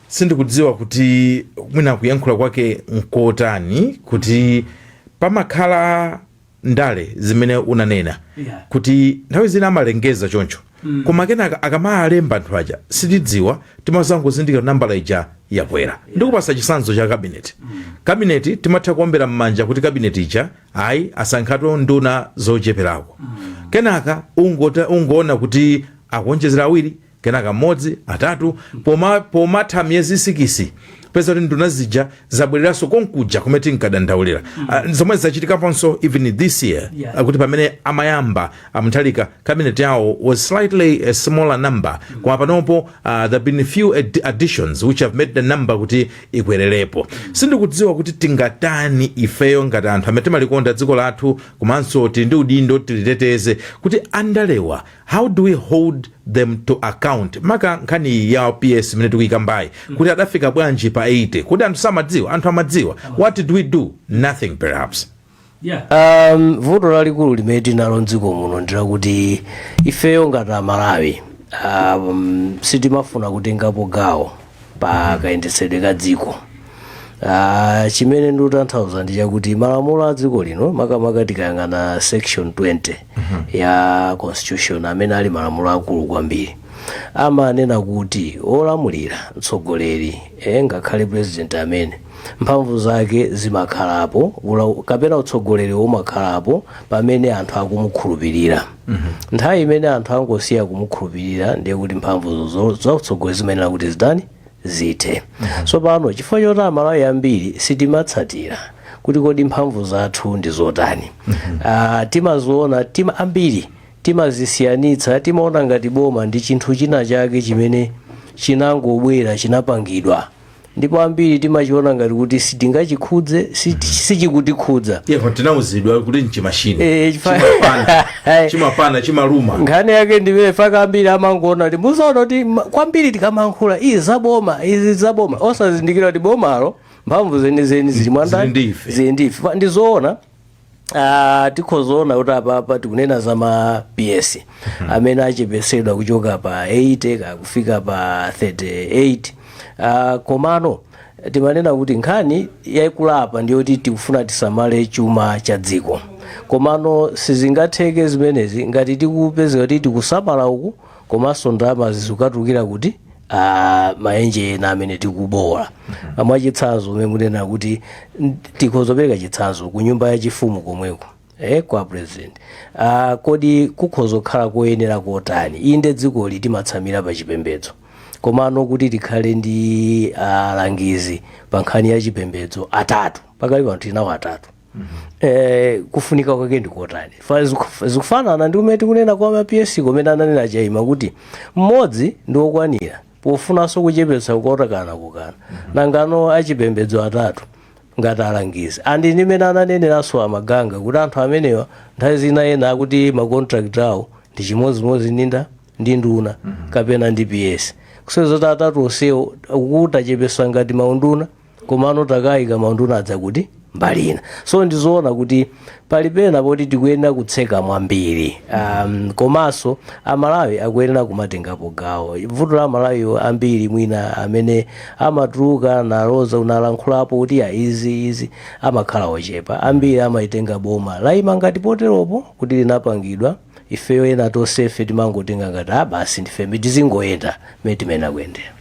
sindikudziwa kuti mwina kuyankhula kwake nkotani kuti pamakhala ndale zimene unanena yeah. kuti nthawi zina amalengeza choncho mm. koma kenaka akamalemba anthu aja sitidziwa timazangozindikira nambala ija yakwera yeah. ndikupatsa chitsanzo cha kabineti mm. kabineti timatha kuombera mmanja kuti kabineti ija ayi asankhatu nduna zocheperako mm. kenaka ungoona kuti akuonjezera awiri kenaka mmodzi, atatu, poma pomatha miyezi sikisi upeza kuti nduna zija zabwereranso konkuja kumene tinkadandaulira Ah, zomwe zachitikaponso even this year Yeah. kuti pamene amayamba a Mutharika cabinet yawo was slightly a smaller number koma panopo uh, there have been a few ad additions which have made the number kuti ikwererepo sindikudziwa kuti tingatani ifeyo ngati anthu amene timalikonda dziko lathu komanso tili ndi udindo tiliteteze kuti andalewa how do we hold them to account maka nkhani iyi ya ps imene tikuyikambayi kuti adafika bwanji pa 80 kodi anthu samadziwa anthu amadziwa what did we do nothing perhaps um, vuto lalikulu limene tinalo mdziko muno ndilakuti ifeyo ngati amalawi um, sitimafuna kutengapo gawo pa kayendetsedwe ka dziko Ah, chimene ndikutanthauza ndi chakuti malamulo a dziko lino makamaka tikayang'ana section 20 ya constitution amene ali malamulo akulu kwambiri amanena kuti olamulira mtsogoleri eh, ngakhale president amene mphamvu zake zimakhalapo ula- kapena utsogoleri umakhalapo pamene anthu akumukhulupirira nthawi imene anthu angosiya kumukhulupirira ndiye kuti mphamvu zo- zautsogoleri zimayenera kuti zitani zithe tsopano chifukwa choti amalawi ambiri sitimatsatira kuti kodi mphamvu zathu ndi zotani Ah, timaziona tima ambiri timazisiyanitsa timaona ngati boma ndi chinthu china chake chimene chinangobwera chinapangidwa ndipo ambiri timachiona ngati kuti sitingachikhudze si- sichikutikhudza eeh tinauzidwa kuti nchimashini Eh, chifa- chimapana chimapana chimaluma nkhani yake ndi imeneyo fact ambiri amangoona kuti muzaona kuti ma- kwambiri tikamankhula izi zaboma izi zaboma osazindikira kuti bomalo mphamvu zenizeni zili mwa ndani Zili ndi ife. zili ndi ife Fa- ndizoona Ah, tikhoza kuona kuti apapa tikunena za ma ps amene achepetsedwa kuchoka pa 80 ka kufika pa 38 Ah, komano timanena kuti nkhani yaikulu apa ndiyoti tikufuna tisamale chuma cha dziko komano sizingatheke zimenezi ngati tikupezeka kuti tikusamala uku komanso ndalamazi zikukatulukira kuti ah, maenje ena amene tikubowola mwachitsanzo mmene mumanena kuti n- tikhoza kupereka chitsanzo ku nyumba yachifumu komweko eh, kwa president ah, kodi kukhoza kukhala koyenera kotani inde dzikoli timatsamira pa chipembedzo komano kuti tikhale ndi alangizi pa nkhani ya chipembedzo atatu pakali pano tinawo atatu eh, kufunika kwake ndikotani Fa- ziku- zikufanana ndi mmene tikunena kwa ma ps mmene ananena a Chaima kuti mmodzi ndi wokwanira pofunanso kuchepetsa kukotakana kukana nangano achipembedzo atatu ngati alangizi and ndi mmene ananeneranso amaganga kuti anthu amenewa nthawi zina ena akuti macontract awo ndi chimodzimodzi ninda ndi nduna kapena ndi ps kusonyeza kuti atatu onsewo kutachepetsa ngati maunduna komano tikayika maunduna aja kumbali ina so ndizoona kuti pali pena poti tikuyenera kutseka mwambiri um, komanso amalawi akuyenera kumatengapo gawo vuto la amalawiwo ambiri mwina amene amatuluka nalo nalankhulapo kuti ya izi izi amakhala ochepa ambiri amaitenga boma layima ngati poteropo kuti linapangidwa ifeyo ena tonsefe timangotenga ngati basi ndife tizingoyenda mmene timayenera kuyendera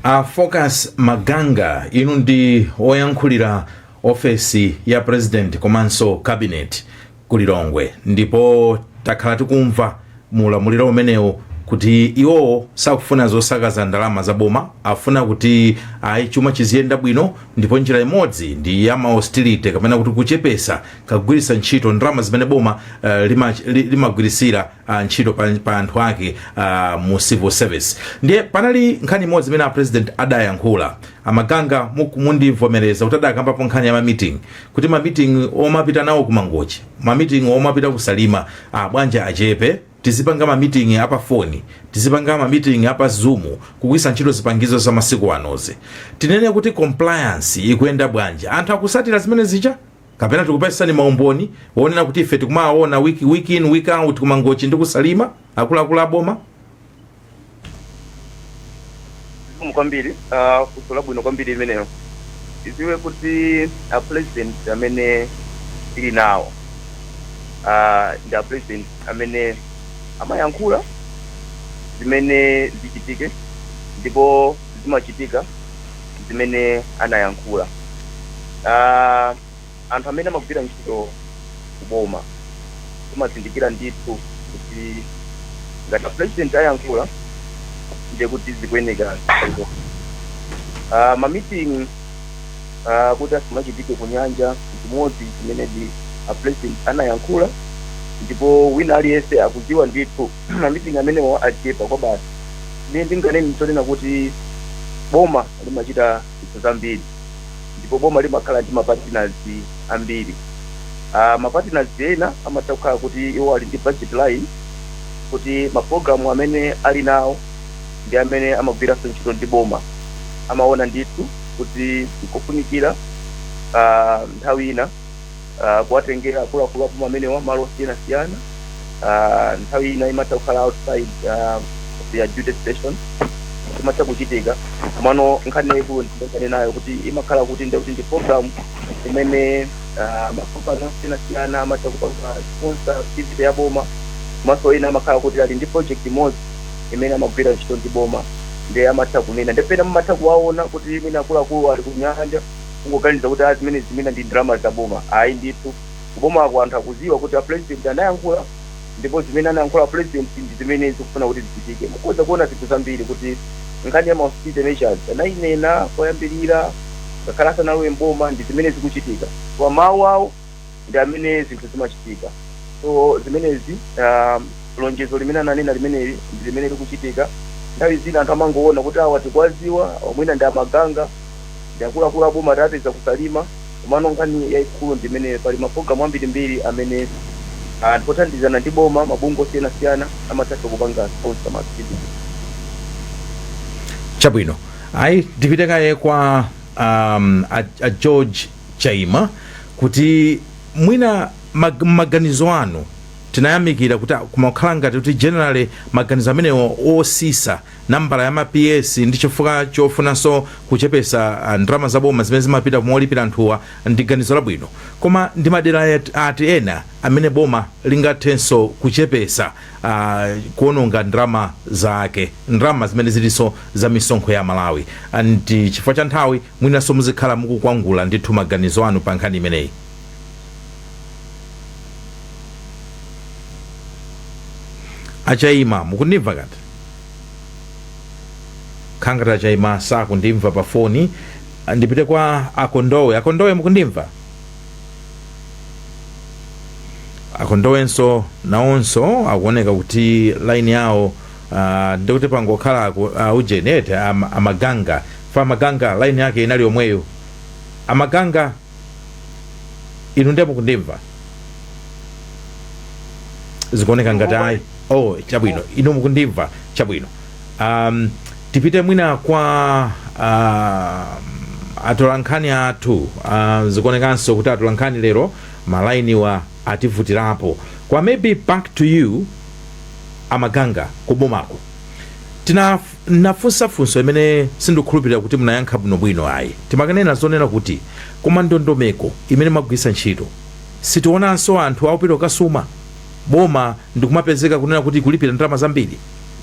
a focus maganga inu ndi oyankhulira ofesi ya president komanso cabinet ku lilongwe ndipo takhala tikumva mu ulamuliro umenewo kuti iwowo sakufuna zosakaza ndalama za boma afuna kuti ayi chuma chiziyenda bwino ndipo njira imodzi ndi ya ma austerity kapena kuti kuchepesa kagwiritsa ntchito ndalama zimene boma uh, limagwiritsira ah, ntchito pa, pa anthu ake ah, mu civil service ndiye panali nkhani imodzi imene a president adayankhula amaganga mu- mundivomereza kuti adakambapo nkhani ya mamiting kuti mamiting omapita nawo ku mangochi mamiting omapita ku salima ah, bwanja achepe tizipanga mamiting apa foni tizipanga mamiting apa zoom kugwiritsa ntchito zipangizo za masiku anozi tinene kuti compliance ikuyenda bwanji anthu akutsatira zimene zija kapena tikupatseni maumboni onena kuti ife tikumawaona week, week in week out kumangochi ndi kusalima akuluakulu aboma zikomo kwambiri uh, funso labwino kwambiri limenelo tidziwe kuti a president amene tili nawo uh, ndi a president amene amayankhula zimene zichitike ndipo zimachitika zimene anayankhula Ah, anthu amene amagwira ntchito kuboma timazindikira ndithu kuti ngati a president ayankhula ndiye kuti zikuyeneka zitero. Ah, ma meeting ah, kuti asamachitike ku nyanja chimodzi chimenedi a president anayankhula ndipo wina aliyense akudziwa ndithu ma meeting amenewo achepa kwabasi ndiye ndinganene ndi chonena kuti boma limachita zinthu zambiri ndipo boma limakhala ndi mapartners ambiri uh, mapartners ena amatha kukhala kuti iwo ali ndi budget line kuti maprogramu amene ali nawo ndi amene amagwiranso ntchito ndi boma amaona ndithu kuti nkofunikira uh, nthawi ina uh, kuwatengera akuluakulu aboma amenewa malo osiyanasiyana uh, nthawi ina imatha kukhala outside uh, their duty station imatha kuchitika komano nkhani yaikulu ndikanenayo kuti imakhala kuti ndi kuti ndi program imene uh, makampani osiyanasiyana amatha kupanga sponsor activity ya boma komanso ena amakhala kuti ali ndi project imodzi imene amagwira ntchito ndi boma nde amatha kunena nde pena mumatha kuwaona kuti mwina akuluakulu ali kunyanja kungoganiza kuti a zimenezi mwina ndi ndalama za boma ayi ndithu ku bomaku anthu akuziwa kuti a President anayankhula ndipo zimene anayankhula a president ndi zimene zikufuna kuti zichitike mukhoza kuona zinthu zambiri kuti nkhani ya ma austerity measures anayinena koyambirira ngakhale asanalowe mboma ndi zimene zikuchitika kwa mawu awo ndi amene zinthu zimachitika so zimenezi ah, lonjezo limene ananena limeneli ndi limene likuchitika nthawi zina anthu amangoona kuti awa tikuwaziwa mwina ndi a Maganga ndi akuluakulu aboma tawapeza ku Salima komano nkhani yayikulu ndi imene pali mapulogalamu ambirimbiri amene anthu othandizana ndi boma mabungwe osiyanasiyana amathanso kupanga sponsor ma activity chabwino ayi tipite kaye kwa um, a, a George Chaima kuti mwina mag, mmaganizo anu titayamikira kuti ah, kumakhala ngati kuti generally maganizo amenewo osisa nambala ya ma PS ndi chifukwa chofunanso kuchepesa ah, ndalama za boma zimene zimapita kumolipira anthuwa ndi ganizo labwino, koma ndi madera yet- ati ena amene boma lingathenso kuchepesa ah, kuononga ndalama zake ndalama zimene zilinso za misonkho ya aMalawi and chifukwa cha nthawi Mwinanso muzikhala mukukwangula ndithu maganizo anu pa nkhani imeneyi. A Chaima, mukundimva kati? Kukhala ngati a Chaima sakundimva pa foni, ndipite kwa a Kondowe. A Kondowe, mukundimva? A Kondowenso nawonso akuoneka kuti line yawo ah, ndikuti pangokhala aku- ah, ujeni eti am- a Maganga F A Maganga, Line yake inali yomweyo. A Maganga, Inu ndiye mukundimva? Zikuoneka ngati ayi. Oh, chabwino. Inu mukundimva? Chabwino. Um, tipite mwina kwa uh, atolankhani athu uh, zikuonekanso kuti atolankhani lero malainiwa ativutirapo kwa maybe back to you a Maganga kubomako tina N'nafunsa funso imene sindikukhulupilila kuti munayankha bwino-bwino ayi. Timakanena zonena kuti, Koma ndondomeko imene mwagwilitsa nchito, sitionanso anthu akupita kukasuma, boma ndi kumapezeka kunena kuti ikulipila ndalama zambili?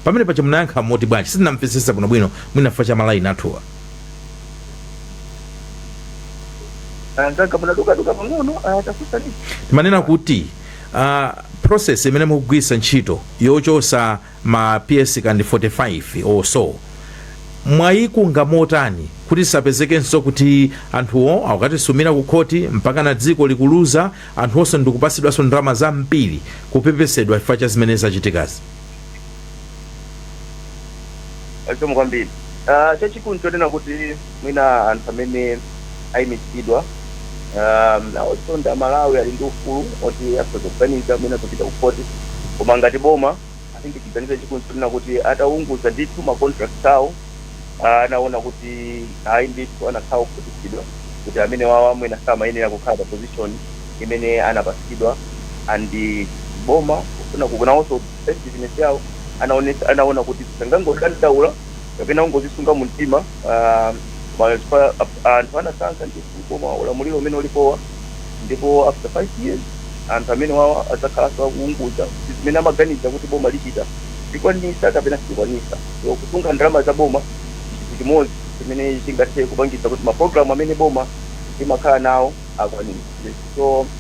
Pamene paja munayankha moti bwanji? Sitinamvetsetse bwino-bwino, mwina chifukwa cha ma line athuwa. Mzanga munaduka-duka pang'ono apa, tafunsaninso. Timanena kuti, Process imene mukugwilitsa nchito yochosa ma PS kandi 45 or so mwayikunga motani kuti zisapezekenso kuti anthuwo akukatisumira ku khoti mpakana dziko likuluza anthu onse ndikupasidwanso ndalama zambiri kupepesedwa chifukwa cha zimene zachitikazi zikomo kwambiri Ah, chachikulu nchonena kuti mwina anthu amene ayimitsidwa um, nawonso ndi amalawi ali ndi ufulu oti akhoza kuganiza mwina kupita kukhoti koma ngati boma litatenga chiganizo chikunena kuti ataunguza ndithu ma contract awo ah, anaona kuti ayi ndithu anakhala okhutitsidwa kuti amene wawa mwina samayenera kukhala pa position imene anapatsidwa and boma kufuna kuonanso seriousness yawo anaonesa- anaona kuti sangangodandaula kapena ungozisunga mu mtima ah, ma- chifukwa a- anthu anasankha ndithu boma ulamuliro umene ulipowa ndipo after five years anthu amene wawa adzakhalanso akuunguza kuti zimene amaganiza kuti boma lichita likwanisa kapena silikwanisa so kusunga ndalama za boma chinthu chimodzi chimene chingathe kupangisa kuti mapulogalamu amene boma limakhala nawo akwanise so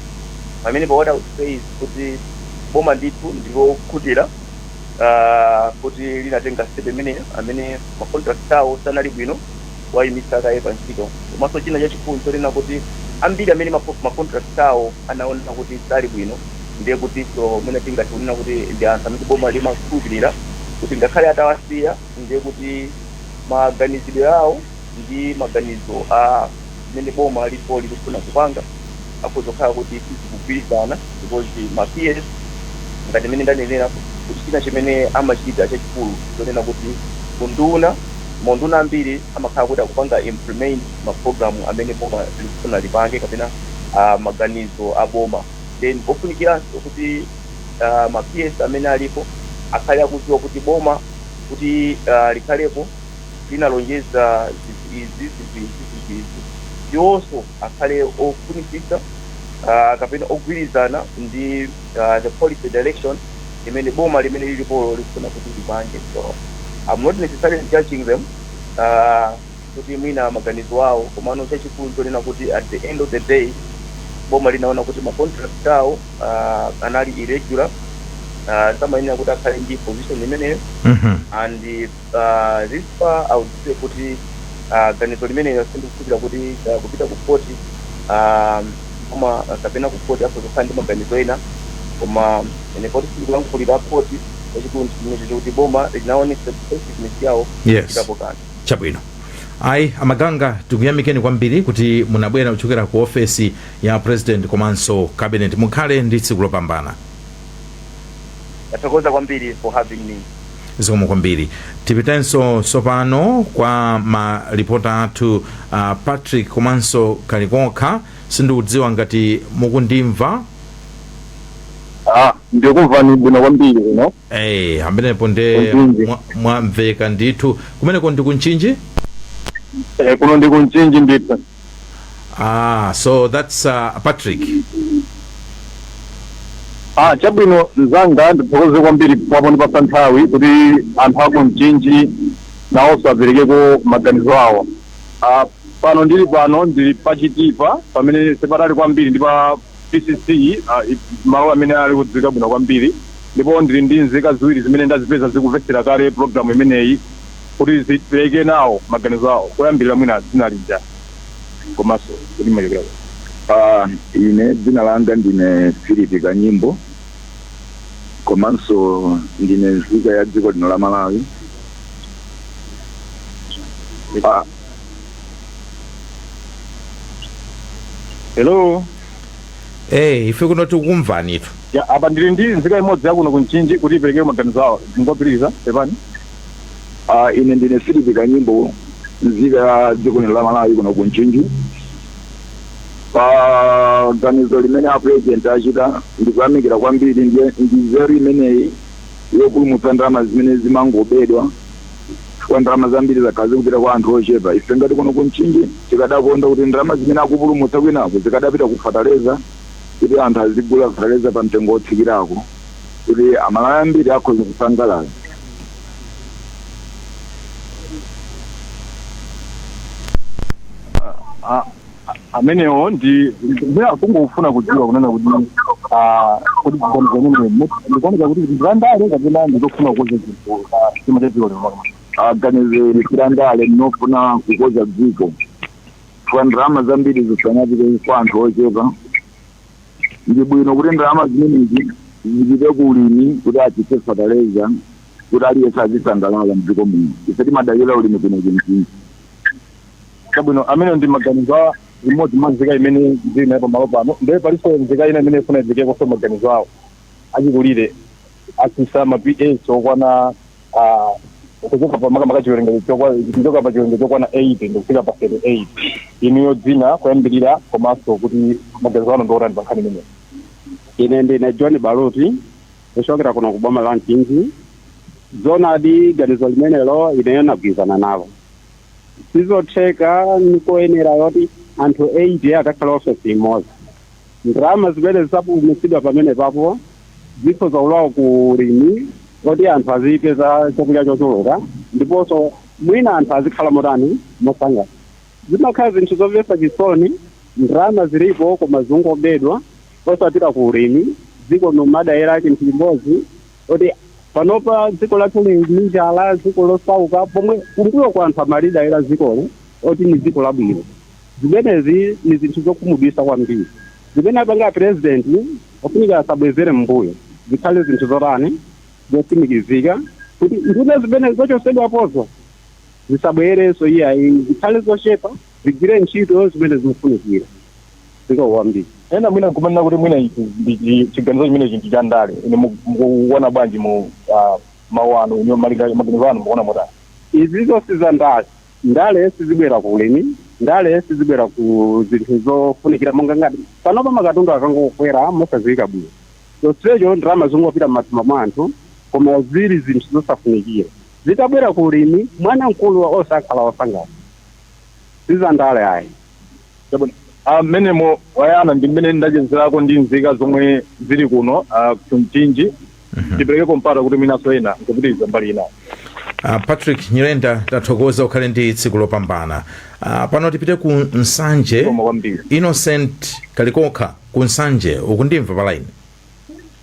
pamene pa what I would say is kuti boma ndithu ndilokhutira ah, kuti linatenga step imeneyo amene ma contract awo sanali bwino awayimitsa kaye pa ntchito komanso china chachikulu chonena kuti ambiri amene ma ma contract awo anaona kuti sali bwino ndiye kutinso mwina tingati kunena kuti ndi anthu amene boma limakhulupirira kuti ngakhale atawasiya ndiye kuti maganizidwe awo ndi maganizo a zimene boma lilipo likufuna kupanga akhoza kukhala kuti sizikugwirizana because ma PS ngati mmene ndanenera kuti china chimene amachita chachikulu chonena kuti unduna maunduna ambiri amakhala kuti akupanga implement mapulogalamu amene boma likufuna lipange kapena ah, maganizo a boma then pofunikiranso kuti ah, ma PS amene alipo akhale akudziwa kuti boma kuti ah, likhalepo linalonjeza zinthu izi zinthu izi zinthu izi iwonso akhale ofunitsitsa uh, kapena ogwirizana ndi uh, the policy direction imene boma limene lilipolo likufuna kuti lipange so I'm not necessarily judging them uh, kuti mwina maganizo awo komano chachikulu chonena kuti at the end of the day boma linaona kuti ma contract awo uh, anali irregular uh, samayenera kuti akhale ndi position imeneyo Mhm. and ah, at this far I would say kuti ah, ganizo limenelo sindikukhulupirira kuti ah, kupita ku khoti ah, koma ah, kapena ku khoti akhoza kukhala ndi maganizo ena koma ine poti sindikulankhulira khoti chachikulu ndichimenecho chokuti boma linaonesa effectiveness yawo Yes. chitapo kanthu chabwino ayi a Maganga tikuyamikeni kwambiri kuti munabwera kuchokera ku ofesi ya president komanso cabinet mukhale ndi tsiku lopambana Ndathokoza kwambiri for having me. zikomo kwambiri tipitenso tsopano kwa maripota athu uh, patrick komanso Kalikokha sindikudziwa ngati mukundimva Ah, ndikumvani bwino kwambiri kuno. Hey, amenepo nde ku Mchinji. mwa- mwamveka ndithu kumeneko ndi ku Mchinji Eh, kuno ndi ku Mchinji ndithu. ah so that's uh, patrick Ah, chabwino mzanga ndithokoze kwambiri pondipatsa nthawi kuti anthu aku Mchinji nawonso aperekeko maganizo awo ah, pano ndili pano ndili pachitipa pamene sipatali kwambiri ndi pa PTC malo amene ali odziwika bwino kwambiri ndipo ndili ndi nzika ziwiri zimene ndazipeza zikumvetsera kale program imeneyi kuti zipereke nawo maganizo awo kuyambirira mwina dzina lija komanso kuti mumachokera kuti. Uh, ine dzina langa ndine Philip Kanyimbo komanso ndine nzika ya dziko lino la Malawi. Uh, hello eh ife kuno tikukumvanitu ya apa ndili ndi nzika imodzi yakuno ku Mchinji kuti ipereke maganizo awo ndingopitiriza pepani Ah, ine ndine Philip Kanyimbo nzika ya dziko lino la Malawi kuno ku Mchinji pa ganizo limene a president achita ndikuyamikira kwambiri ndi nzeru imeneyi yopulumutsa ndalama zimene zimangobedwa chifukwa ndalama zambiri zakhala zikupita kwa anthu ochepa. Ife ngati kuno ku Mchinji tikadakonda kuti ndalama zimene akupulumutsa kwinako zikadapita ku fataleza kuti anthu azigula fataleza pa mtengo wotsikirako kuti Amalawi ambiri akhoza kusangalala. Ah, ah. amenewo ndimangofuna kudziwa kunena kuti ah, kuti ziganizo zimenezo ndikuoneka kuti ndizandale kapena ndizofuna kukonza zinthu chuma cha dziko lino a ganizoli silandale ndilofuna kukonza dziko chifukwa ndalama zambiri zisamapite kwa anthu ochepa ndi bwino kuti ndalama zimenezi zipite ku ulimi kuti atsitse fataleza kuti aliyense azisangalala mdziko muno ife timadalira ulimi kuno ku Mchinji Chabwino, amenewo ndi maganizo a imodzi mwa nzika imene ndiri nayo pamalo pano. Ndiye palinso nzika ina imene ikufuna iperekekonso maganizo awo. Achikulire atsitsa ma PS okwana aah, kuchoka pa makamaka chiwerengero chokwa, kuchoka pa chiwerengero chokwana 80 ndikufika pa 38. Inuyo dzina, kuyambirira komanso kuti maganizo anu ndi otani pa nkhani imeneyi? Ine ndine John Baluti, kuchokera kuno ku boma la Mchinji. Zoonadi ganizo limenelo ineyo nagwirizana nalo. sizotheka nikoyenera yoti anthu 80 akakhale ofesi imodzi ndalama zimene zidzapulumutsidwa pamenepapo zikhoza kulowa ku ulimi oti anthu azipeza chakudya chochuluka ndiponso mwina anthu azikhala motani mosangalala zimakhala zinthu zomvetsa chisoni ndalama zilipo koma zingobedwa osapita ku ulimi dziko nkumadalira chinthu chimodzi kuti panopa dziko lathu lili ndi njala dziko losauka pomwe kumbuyoku anthu amalidalira dzikolo oti ni dziko labwino zimenezi ni zinthu zokhumudwitsa kwambiri zimene apanga apurezidenti ofunika asabwezere m'mbuyo zikhale zinthu zotani zotsimikizika kuti nduna zimene zochotsedwapozo zisabwerenso iyayi zikhale zochepa zigwire ntchito zimene zikufunikira Zikomo kwambiri. Ena mwina nkumanena kuti mwina ichi ndi chi chiganizo chimenechi ndi cha ndale. Inu mu mukuona bwanji mu a mau anu inu malinga maganizo anu mukuona motani? Izizo si za ndale. Ndale sizibwera ku ulimi. Ndale sizibwera ku zinthu zofunikira monga ngati panopa makatundu akangokwera mosadziwika bwino, chonsecho ndalama zikungopita m'matumba mwa anthu koma ziri zinthu zosafunikira. Zitabwera ku ulimi, mwana mkulu onse akhala osangalala. Si za ndale ayi. Chabwino. Ah, mmenemo wayana ndi mmene ndachezerako ndi nzika zomwe zili kuno ah, ku Mchinji tiperekeko mpata kuti mwinanso ena nkupitiriza mbali inayo. Uh, Patrick Nyirenda tathokoza ukhale ndi tsiku lopambana uh, pano tipite ku Nsanje Zikomo kwambiri. Innocent Kalikokha ku Nsanje ukundimva palaini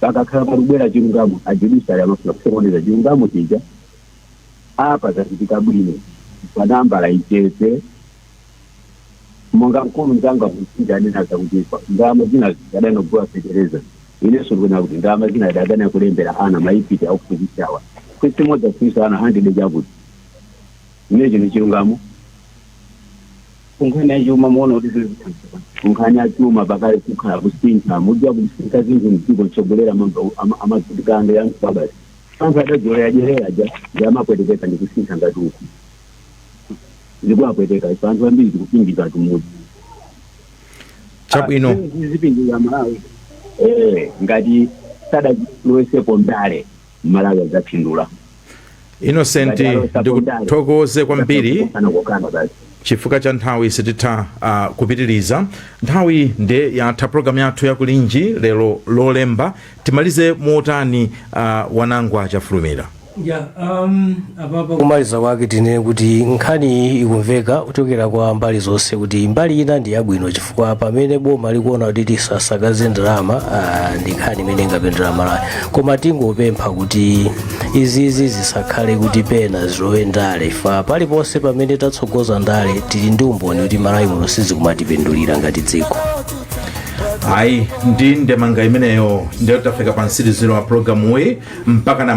Pakakhala pakubwera chilungamo a judiciary amafuna kusokoneza chilungamo chija. Apa zachitika bwino pa nambala ichepe monga mkulu mzanga ku Mchinji anena zakuti pa ndalama zina zikadatha kugula fetereza inenso ndikuona kuti ndalama zina adakatha kulembera ana ma IPTE akuphunzitsawa kalasi imodzi aphunzitsa ana hundred chakuti ine ichi ni chilungamo kunkhani ya chuma muona kuti zili kutsogolo kunkhani ya chuma pakale kukhala kusintha mudya kusintha zinthu mdziko mtsogoleri amadzitikando ya msabasi anthu adazolowera kudyera aja ndi amapwetekeka ndi kusintha ngati uku ndikuwapweteka ife anthu ambiri tikupindula kumudzi chabwino zipindulira Malawi eh ngati sadalowesepo ndale mmalawi adzapindula innocent ndikuthokoze kwambiri chifukwa cha nthawi sititha uh, kupitiriza nthawi nde yatha programu yathu yakulinji lero lolemba timalize motani uh, wanangwa chafulumira ya um, apapa kumaliza kwake tinene kuti nkhani iyi ikumveka kuchokera kwa mbali zonse kuti mbali ina ndi yabwino chifukwa pamene boma likuona kuti tisasakaze ndalama ah, ndi nkhani imene ingapindulire malawi koma tingopempha kuti izizi zisakhale kuti pena zilowe ndale chifukwa paliponse pamene tatsogoza ndale tili ndi umboni kuti malawi muno sizikumatipindulira ngati dziko ayi ndi ndemanga imeneyo ndiyo tafika pa mtsiriziro wa programu iyi mpaka na